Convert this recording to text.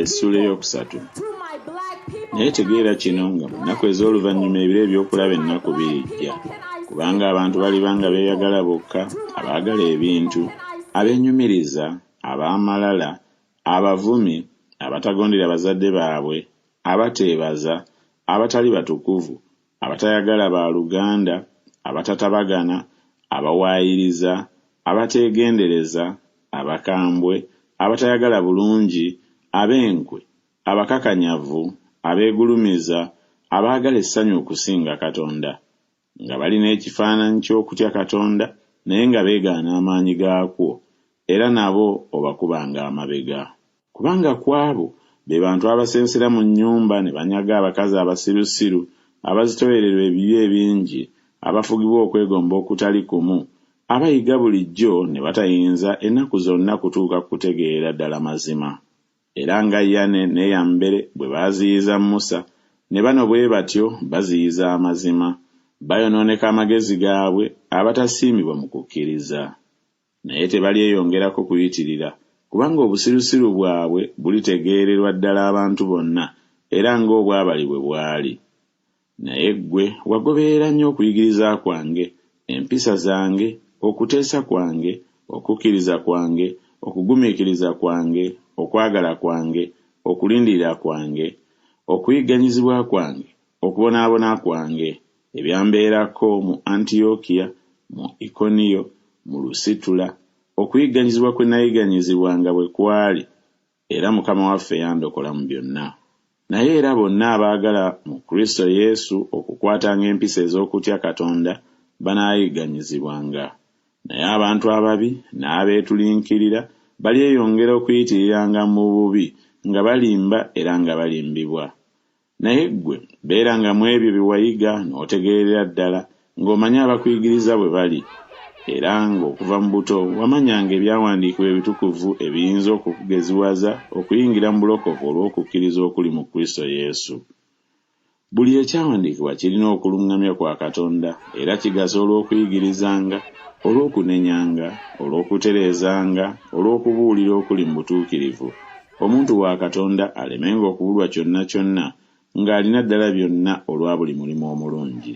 essula eyokusatu naye tegeera kino nga mu nnaku ez'oluvannyuma ebiro eby'okulaba ennaku birijja kubanga abantu baliba nga beeyagala bokka abaagala ebintu abenyumiriza ab'amalala abavumi abatagondera bazadde baabwe abateebaza abatali batukuvu abatayagala ba luganda, abatatabagana, abawaayiriza, abateegendereza, abakambwe, abatayagala bulungi, ab'enkwe, abakakanyavu, abeegulumiza, abaagala essanyu okusinga Katonda, nga balina ekifaananyi ky'okutya Katonda naye nga beegaana amaanyi gaakwo, era nabo obakubanga amabega. Kubanga ku abo, be bantu abasensera mu nnyumba ne banyaga abakazi abasirusiru, abazitooyererwa ebibi ebingi, abafugibwa okwegomba okutali kumu, abayiga bulijjo ne batayinza ennaku zonna kutuuka ku kutegeera ddala mazima. Era nga Yane ne Yambere bwe baaziyiza Musa, ne bano bwe batyo baziyiza amazima. Bayonooneka amagezi gaabwe, abatasiimibwa mu kukkiriza. Naye tebalyeyongerako kuyitirira, kubanga obusirusiru bwabwe bulitegeererwa ddala abantu bonna, era nga obwabali bwe bwali. Naye ggwe wagoberera nnyo okuyigiriza kwange, empisa zange, okuteesa kwange, okukkiriza kwange, okugumiikiriza kwange, okwagala kwange, okulindirira kwange, okuyigganyizibwa kwange, okubonaabona kwange, Ebyambeerako mu Antiyokiya, mu Ikoniyo, mu Lusitula, okuyigganyizibwa kwe nayigganyizibwa nga bwe kwali, era Mukama waffe yandokola mu byonna. Naye era bonna abaagala mu Kristo Yesu okukwatanga empisa ez'okutya Katonda banaayigganyizibwanga. Naye abantu ababi n'abeetulinkirira balyeyongera okuyitiriranga mu bubi nga balimba era nga balimbibwa. Naye ggwe beeranga mu ebyo bye wayiga n'otegeerera ddala, ng'omanya abakuyigiriza bwe bali, era ng'okuva mu buto wamanyanga ebyawandiikibwa ebitukuvu ebiyinza okukugeziwaza okuyingira mu bulokovu olw'okukkiriza okuli mu Kristo Yesu. Buli ekyawandiikibwa kirina okuluŋŋamya kwa Katonda, era kigasa olw'okuyigirizanga, olw'okunenyanga, olw'okutereezanga, olw'okubuulira okuli mu butuukirivu, Omuntu wa Katonda alemenga okubulwa kyonna kyonna, ng'alina ddala byonna olwa buli mulimu omulungi.